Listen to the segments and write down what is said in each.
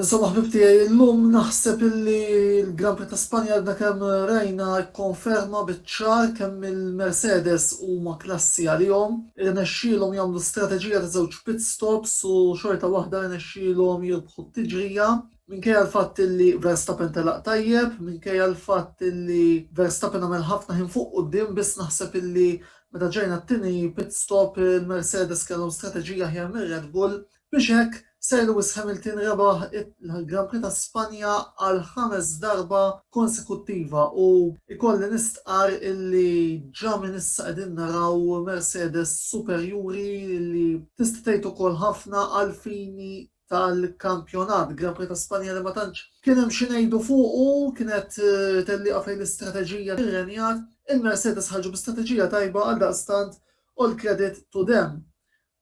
Insomma ħbib tiegħi illum naħseb illi l-Grand Prix ta' Spanja għadna kemm rajna kkonferma biċ-ċar kemm il-Mercedes huma klassi għalihom. Irnexxielhom jagħmlu strateġija ta' żewġ pit stops u xorta waħda rnexxielhom jirbħu t-tiġrija minkejja l-fatt illi Verstappen telaq tajjeb, minkejja l-fatt illi Verstappen għamel ħafna ħin fuq quddiem biss naħseb illi meta ġejna t-tieni pit stop il-Mercedes kellhom strateġija aħjar mir-Red Bull Biex hekk, Sir Lewis Hamilton rebaħ il-Gran Prix ta' Spanja għall-ħames darba konsekuttiva u jkolli nistqarr illi ġa minn issa qegħdin naraw Mercedes superjuri li tista' tgħid ukoll ħafna għall-fini tal-kampjonat. Gran Prix ta' Spanja li ma tantx kien hemm xi ngħidu fuqu, kienet tellieqa fejn l-istrateġija rrenjat. Il-Mercedes ħarġu bi strateġija tajba għaldaqstant all credit to them.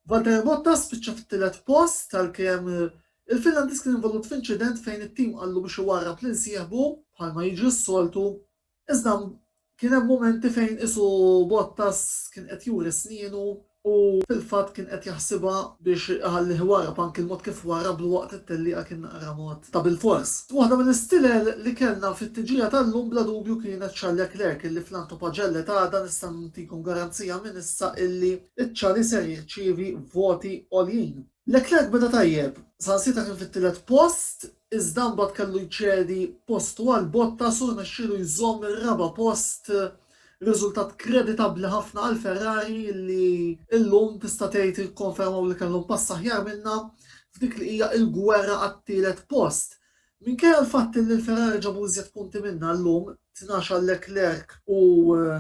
Valtteri Bottas spiċċa fit-tielet post għalkemm il-Finlandiż kien involut f'inċident fejn it-tim qallu biex iwarrab lil sieħbu bħalma jiġri s-soltu iżda kien hemm mumenti fejn qisu Bottas kien qed juri snienu u fil-fatt kien qed jaħsibha biex iħallih iwarrab anki l-mod kif warrablu waqt it-tellieqa kien naqra mod ta' bilfors. Waħda mill-istilel li kellna fit-tġija tal-lum bla dubju kienet Charles Leclerc illi fl-antopagelle ta' għada nista' ntikom garanzija minn issa illi iċ-Chali ser jirċievi voti għoljin. Leclerc beda tajjeb, saħansitra kien fit-tielet post, iżda mbagħad kellu jċedi postu għal Bottas u rnexxielu jżomm ir-raba' post, riżultat kreditabbli ħafna għal Ferrari li llum tista' tgħid ikkonfermaw li kellhom pass aħjar minnha f'dik li hija l-gwerra għat-tielet post. Minkejja l-fatt li l-Ferrari ġabu iżjed punti minnha llum, tnax għal Leclerc u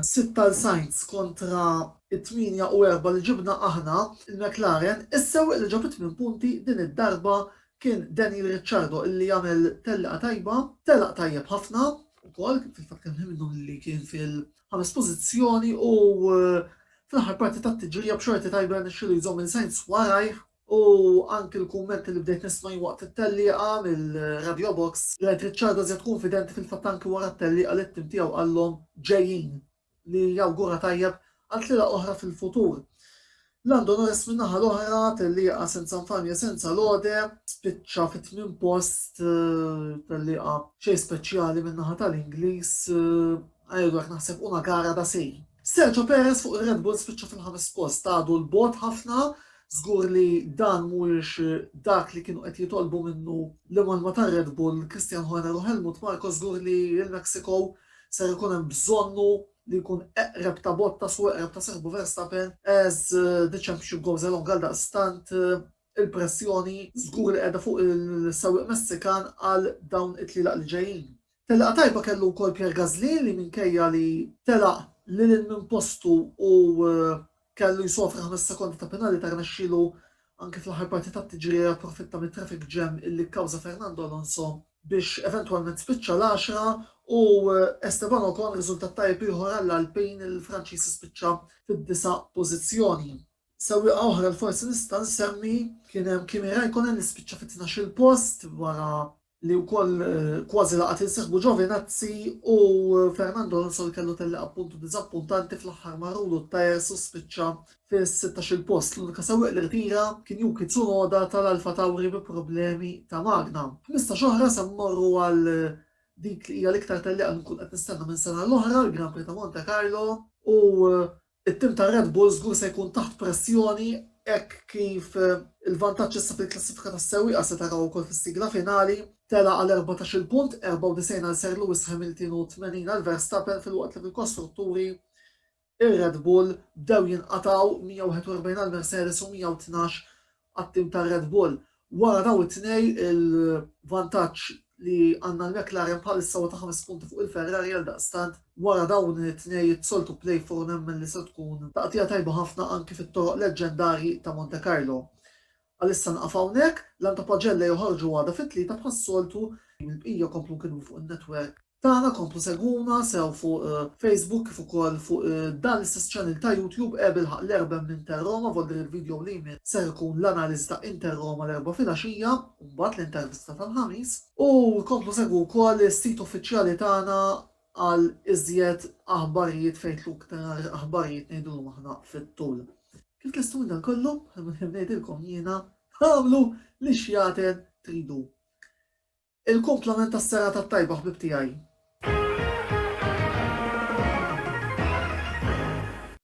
sitt għal Sainz kontra t-tmienja u erbgħa li ġibna aħna, il-McLaren, is-sewwieq li ġab it-tmien punti din id-darba kien Daniel Ricciardo illi għamel tellieqa tajba, telaq tajjeb ħafna wkoll, fil-fatt kien wieħed minnhom illi kien fil-ħames pożizzjoni u fl-aħħar parti tat-tiġrija b'xorti tajba rnexxielu jżomm lil Sainz warajh U anki l-kummenti li bdejt nisma' jien waqt it-tellieqa mir-Radio Box, rajt Ricciardo żied kunfidenti fil-fatt anki wara t-tellieqa li t-tim tiegħu qalhom ġejjin li jawgura tajjeb għal tlielaq oħra fil-futur. Lando Norris min-naħa l-oħra, tellieqa senza nfamja senza lode, spiċċa fit-tmien post, tellieqa xejn speċjali min-naħa tal-Ingliż, għajr u hekk naħseb una gara da sé. Sergio Perez fuq ir-Red Bull spiċċa fil-ħames post, għadu 'l bogħod ħafna, żgur li dan mhuwiex dak li kienu qed jitolbu minnu l-imgħallma tar-Red Bull, Christian Horner u Helmut Marko, żgur li l-Mexico ser ikun hemm bżonnu li jkun eqreb ta' Bottas u eqreb ta' sieħbu Verstappen as the championship goes along għaldaqstant Il-pressjoni żgur li qiegħda fuq is-sewwieq Messikan għal dawn it-tlielaq li ġejjin. Telqa tajba kellu wkoll Pierre Gasly li minkejja li telaq lil hinn minn postu u kellu jsofri ħames sekondi ta' penalità rnexxielu anki fl-aħħar parti tat-tiġrija japprofitta mit-traffic jam illi kkawża Fernando Alonso biex eventwalment spiċċa l-għaxra u Esteban Ocon riżultat tajjeb ieħor għall-Alpine, il-Franċiż spiċċa fid-disa' pożizzjoni. Sewwieqa oħra li forsi nista' nsemmi kien hemm Kimi Räikkönen li spiċċa fit-tnax-il post wara li wkoll kważi laqat lil sieħbu Giovinazzi u Fernando Alonso li kellu tellieqa b'puntu diżappuntanti fl-aħħar marrulu t-tajers u spiċċa fis-sittax-il post. L-unika sewwieq li rtira kien Yuki Tsunoda tal-Alfa Tauri bi problemi ta' magna. Ħmistax oħra se mmorru għal dik li hija l-iktar tellieqa li nkun qed nistenna minn sena għall-oħra, l-Grand Prix ta' Monte Carlo u It-tim ta' Red Bull żgur se jkun taħt pressjoni hekk kif il-vantaġġ issa fil-klassifika tas-sewwieqa se taraw ukoll fis-sigla finali tela' għal erbatax-il punt, 94 għal Sir Lewis Hamilton u 80 għal Verstappen filwaqt li fil-kostrutturi ir-Red Bull bdew jinqatgħu, 141 għal Mercedes u 112 għat-tim tar-Red Bull. Wara dawn it-tnej il-vantaġġ li għandna l-McLaren bħalissa huwa ta' ħames punti fuq il-Ferrari għaldaqstant wara dawn it-tnej it-soltu play four nemmen li se tkun taqtigħa tajba ħafna anki fit-toroq leġġendarji ta' Montecarlo. Għalissa nieqaf hawnhekk, l-għan ta' Paġella joħorġu għada fit-Tlieta bħas-soltu, il-bqija jkomplu nkidbu fuq in-network. Tagħna komplu segwuna sew fuq Facebook kif ukoll fuq dan l-istess channel ta' YouTube Għeb ilħaq l-erben m'Inter Roma volder il-video li jmiss ser ikun l-analiżi ta' Inter Roma l-Erbgħa filgħaxija u mbagħad l-intervista tal-Ħamis. U komplu segwu wkoll is-sit uffiċjali tagħna għal iżjed aħbarijiet fejn tlu iktar aħbarijiet ngħidulhom aħna fit-tul. Kif lestu minn dan kollu, ngħidilkom jiena, agħmlu li xjaten tridu. Il-kumplament tas-serata t-tajba ħbieb tiegħi.